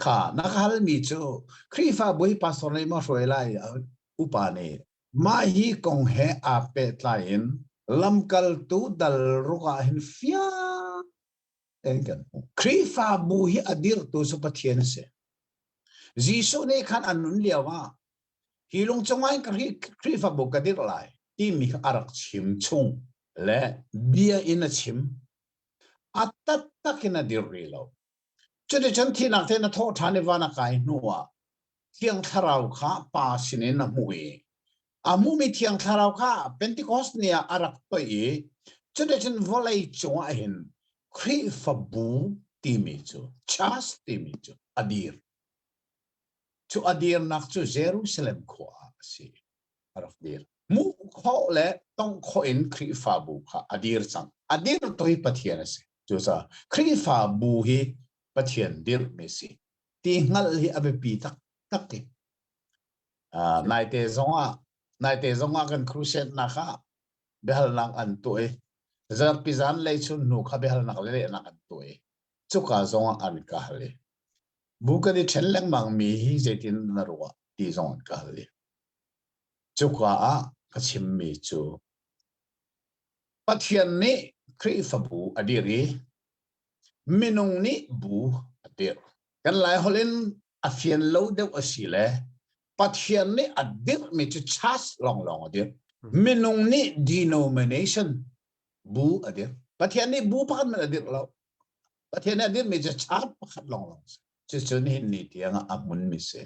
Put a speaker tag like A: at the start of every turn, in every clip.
A: Kha na ka halmi cu Khrihfa Bawipa sawr lei maw hruai lai upa nih mah hi kong he aa pehtlai in lamkaltu dal ruk ah hin fiang tein kan hmuh. Khrihfabu hi a dirhtu cu Pathian a si. Jesuh nih khan an nun lio ah Hi lung cungah in Khrihfabu ka dirh lai timi a rak chim chung le bia in a chim. A taktak in a dirh rih lo. Cuticun thihnak te na thawh ṭhan i van a kai hnu ah Thiang Thlarau kha pa sinin a hmuh i a hmuhmi Thiang Thlarau kha Pentecost ni ah a rak toih i cuticun vawlei cungah hin Khrihfabu timi cu, church timi cu a dir. Cu a dirnak cu Jerusalem khua ah a si. A rak dir. Hmuh khawh le tongh khawh in Khrihfabu kha a dir cang. A dirtu hi Pathian a si. Cucaah Khrihfabu hi Pathian dirhmi a si. Ti hngalh hi a biapi taktak i uh, naite zongah naite zongah kan crusade-nak ah biahalnak an tuah i zarhpi zanlei chun hnu kha biahalnak le lehnak an tuah i cuka zongah an ka hal i Bu kan i ṭhen lengmangmi hi zeitin na ruah ti zong an ka hal i cuka ah ka chimmi cu Pathian nih Khrihfabu a dirh i minung nih bu a dirh. Kan Laiholh in a fian lo deuh a si le Pathian nih a dirhmi cu church lawnglawng a dirh. Minung nih denomination bu a dirh. Pathian nih bu pakhat hmanh a dirh lo. Pathian nih dinmi cu char pakhat lawnglawng si. Cucu nihin ni tiangah a hmunmi si.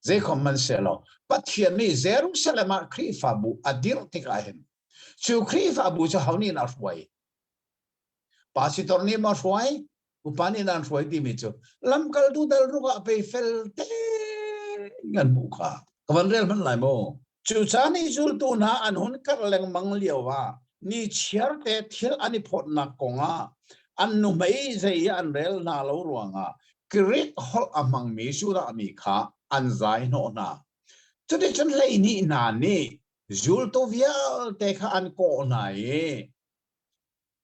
A: Zeikhom man si lo. Pathian nih Jerusalem ah Khrihfabu a dirh tikah hin cu Khrihfabu cu ho nih dah hruai? Pastor nih maw hruai? Upa nih nan hruai timi cu lamkaltu dal rukah pei fel te in an hmuh kha ka van rel hmanh lai maw cucaan i zultu hna an hun karh lengmang lio ah ni chiarte thil an i phawtnak kong ah an nuhmei zei an rel hna lo ruangah Greek holh a hmangmi sudah mi kha an zai hnawh hna cuticun hleihnih hna nih zultu vialte kha an kawh hna i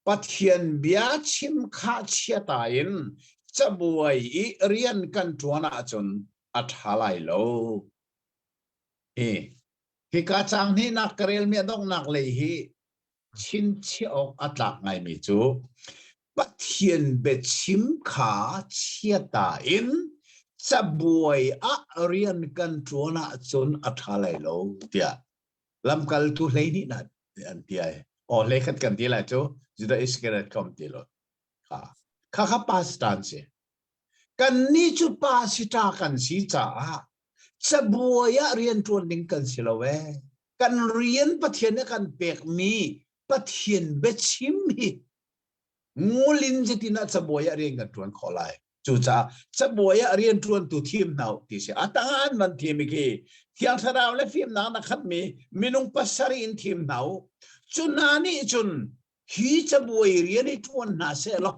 A: Pathian bia chim khahchiata in cabuai i rian kan ṭuan ahcun a ṭha lai lo. Hi hika cang hnihnak ka relmi a donghnak lei hi chinchiah awk a tlak ngaimi cu Pathian biachim kha chiata in cabuai ah rian kan ṭuan ahcun a ṭha lai lo tiah lamkaltu hleihnih nih tiah an ti ai. Aw le khat kan ti lai cu Judah Iscariot kom ti lo. Kha kha kha pastor si. Kan ni cu pa si ta kan si caah cabuai ah rian tuan ding kan si lo e. Kan rian Pathian kan pek mi Pathian biachim hi ngulin zetin ah cabuai ah rian kan tuan khawh lai. cucaah cabuai ah rianṭuantu thim hna ti si a tangan van thimi khi thiang thlarau le fimnak na khatmi minung pasarih in thim hna u cu hna nih cun hi cabuai rian i ṭuan hna sehlaw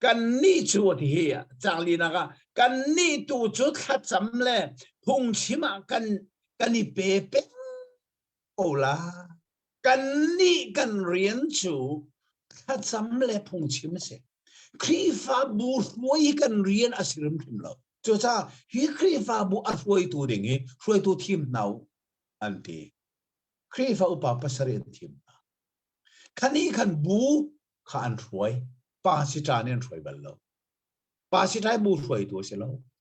A: kannih cu ti hi canglinak ah kannih tu cu thlacam le phungchim ah kan kan i pe peng ko la kannih kan rian cu thlacam le phungchim a si Khrihfabu hruai kan rian a si hrimhrim lo cucaah hi Khrihfabu a hruaitu ding i hruaitu thim hna an ti Khrihfa upa pasarih an thim hna khanih khan bu kha an hruai pa siṭan in an hruai bal lo pa siṭai bu hruaitu a si lo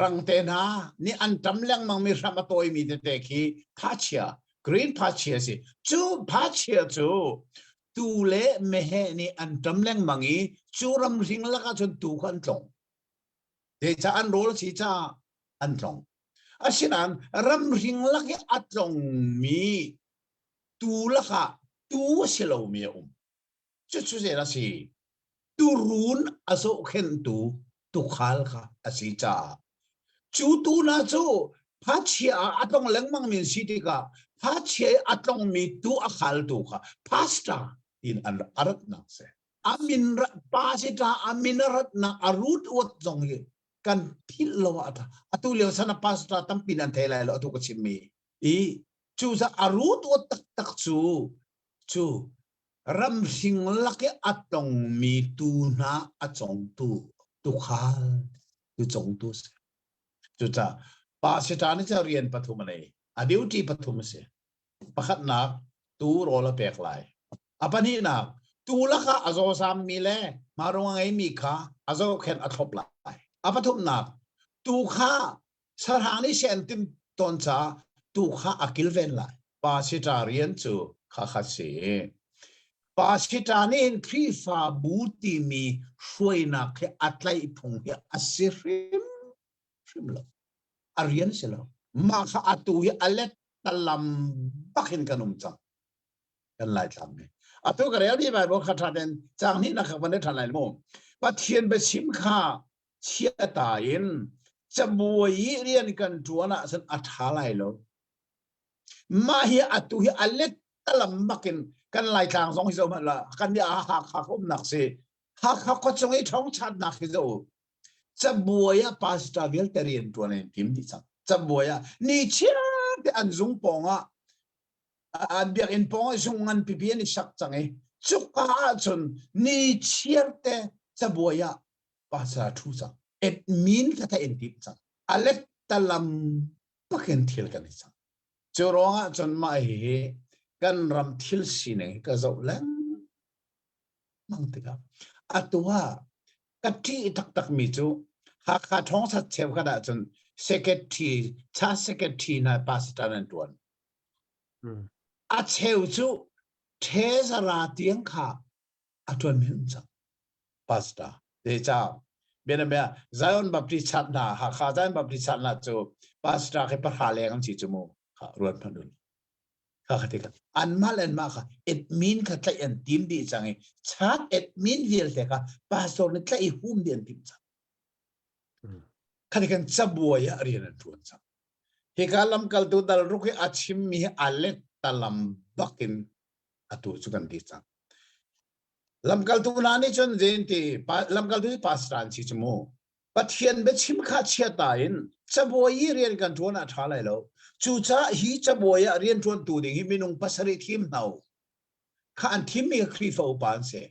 A: rangte hna nih an tam lengmang mi hram a tawimi tete khi phachia green phachia si cu phachia cu tu le mehe nih an tam lengmang i cu ram hring lakah cun tu kha an tlong te ca an rawl si ca an tlong asinain ram hring lak i a tlongmi tu lakah tu a si lomi a um Cucu zen a si. Turun a zohkhenhtu tukhal kha a si caah. Cu tu hna cu phachia ah a tlong lengmang mi si tikah phachia i a tlongmi tu a khaltu kha pastor tiin an a ratnak si. A min pa si ta a min a ratnak a root word zong hi kan philh lo a tha. Atu lio sana pastor tampi nan thei lai lo atu ka chim mi. I cucah a root word taktak cu cu Ramhring lak i a tongmi tu hna a congtu tukhal cu congtu a si. Cucaah pasita nih cun rian pathum a nei. A duty pathum a si. Pakhatnak, tuu rawl a pek lai. A pahnihnak, tuu lakah a zawsammi le mah ruang a ngeimi kha a zohkhenh a thlop lai. A pathumnak, tuu kha sarang nih sen tim ton ca tu kha a kilven lai pasita rian cu kha kha si pasita nih hin khrihfabu timi hruainak hi a tlaih phung hi a si hrim hrim lo a rian si lo mah kha a tu hi a let talam bakin kan um cang kan lai tlam ni atu ka rel ti bai bo kha thaten chang ni na kha pane than lai mo pathian be sim kha chiata in cabuai i rian kan ṭuan ahcun a ṭha lai lo. Mah hi atu hi a let talam bak in kan Laitlang zong hi zoh hmanh la kan nih a Hakha umnak si Hakha khuachung i ṭhawngṭhatnak hi zoh cabuai ah pastor vialte rian ṭuan an tim dih cang cabuai ah ni chiarte an zung pawng ah an biakinn pawng ah zung ngan pipi an i sak cang i cuka ahcun ni chiarte cabuai ah pasal thu cang admin hlata in tim cang alet talam pakin thil kan i cang cu ruangah cun mah hi kan ram thil sining ka zoh leng mang tikah atu ha ka ti taktak mi cu Hakha thongsat cheu ka da cun secretary cha secretary na pa sitan an tuan a cheu cu thezara tiang kha a ṭuan him cang. Pastor, Decau. Bianabia, Zion Baptist chap hna, Hakha Zion Baptist chap hna cu pastor khi pahra leng an si cu mu. Kha ruat hmanh un. Kha kha tikha. An mah le an mah kha admin kha tlaih an tim dih cang i chak admin vialte kha pastor nih tlaih i hum dih an tim cang. Kha tikhan cabuai ah rian an ṭuan cang. Hika lamkaltu dal ruk hi a chimmi hi a lek talam bak in atu cu kan ti cang. Lamkaltu hna nih cun zeinti lamkaltu hi pastor an si cu mu. Pathian biachim kha chiata in cabuai i rian kan ṭuan ah ṭha lai lo. Cucaah hi cabuai ah rian ṭuantu ding hi minung pasarih thim hna u. Kha an thimmi kha Khrihfa upa an si.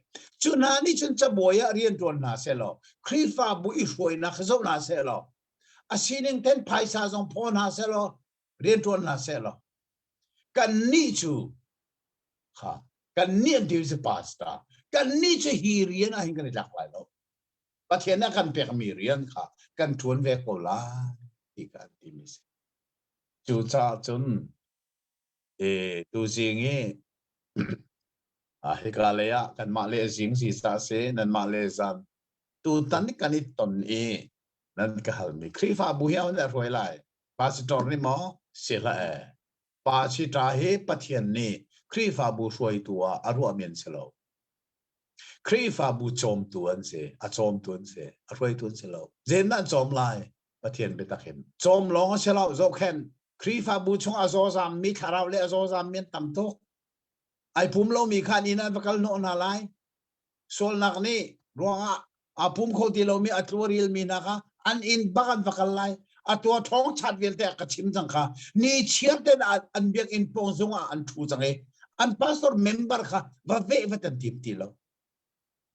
A: Cu hna nih cun cabuai ah rian ṭuan hna seh law Khrihfabu i hruainak zoh hna seh law a sining ten phaisa zong phaw hna seh law rian ṭuan hna seh law kannih cu ha kannih an deal pass ta kannih cu hi rian ah hin kan i tlak lai lo Pathian a kan pekmi rian kha kan ṭuan ve ko lai ti kan timi si. Cucaah cun e, tuzing i hika lei ah kanmah le zing sisa si nanmah le zan tutan kan i ton i nan ka halmi Khrihfabu hi a hun hruai lai Pastor nih maw si hlah ee. Pa si ṭa hi Pathian nih Khrihfabu hruaitu ah a ruahmi an si lo. Khrihfabu cawmtu an si, a cawmtu an si, a hruaitu an si lo. Zen an cawm lai, Pathian biatak hin. Cawm lawng a si lo, zohkhen Khrihfabu chung a zawzam mi thlarau le a zawzam mi an tam tuk. Ai pum lomi kha ni nan va kal hnawh hna lai. sualnak nih ruangah aa pum kho ti lomi a tlu a rilmi hna kha an inn bak an va kal lai a tua thong chat vialte a ka chim cang kha ni chiar ten an biakinn pawng zung ah an thu cang i an pastor member kha va ve va an tim ti lo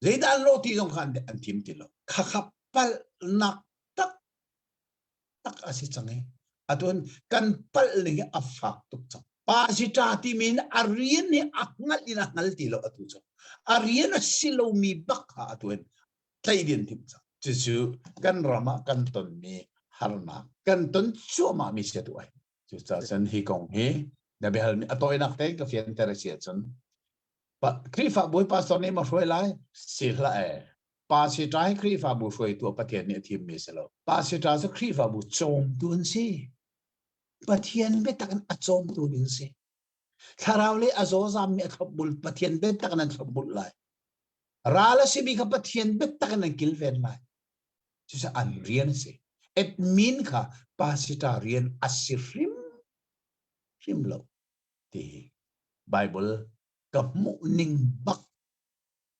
A: zeidah an lo ti zong kha an tim ti lo khakhap palnak tak tak a si cang i atun kan palh ning a fak tuk cang pa si ta ti min a rian hi a ngal in a ngal ti lo atu cu a rian a si lomi bak ha atun tlei din tim cang cucu kan ram ah kan tonmi harnak kan ton cuama mi se tu ai cu ca san hi kong hi na behal mi atoinak te ka fian ter si cun Krihfa bawi pastor nih ma hruai lai si hla e Pa sitra hi Khrihfabu hruaitu a Pathian nih a thimmi si lo. Pa sitra cu Khrihfabu cawmtu an si. Pathian biatak in a cawmtu in si. Thlarau le a zawzam mi a thlopbul Pathian biatak in an thlopbul lai. Ral a si mi kha Pathian biatak in an kilven lai. Cucu an rian a si. Admin kha pa sitra rian a si hrim hrim lo ti Bible ka hmuh ning bak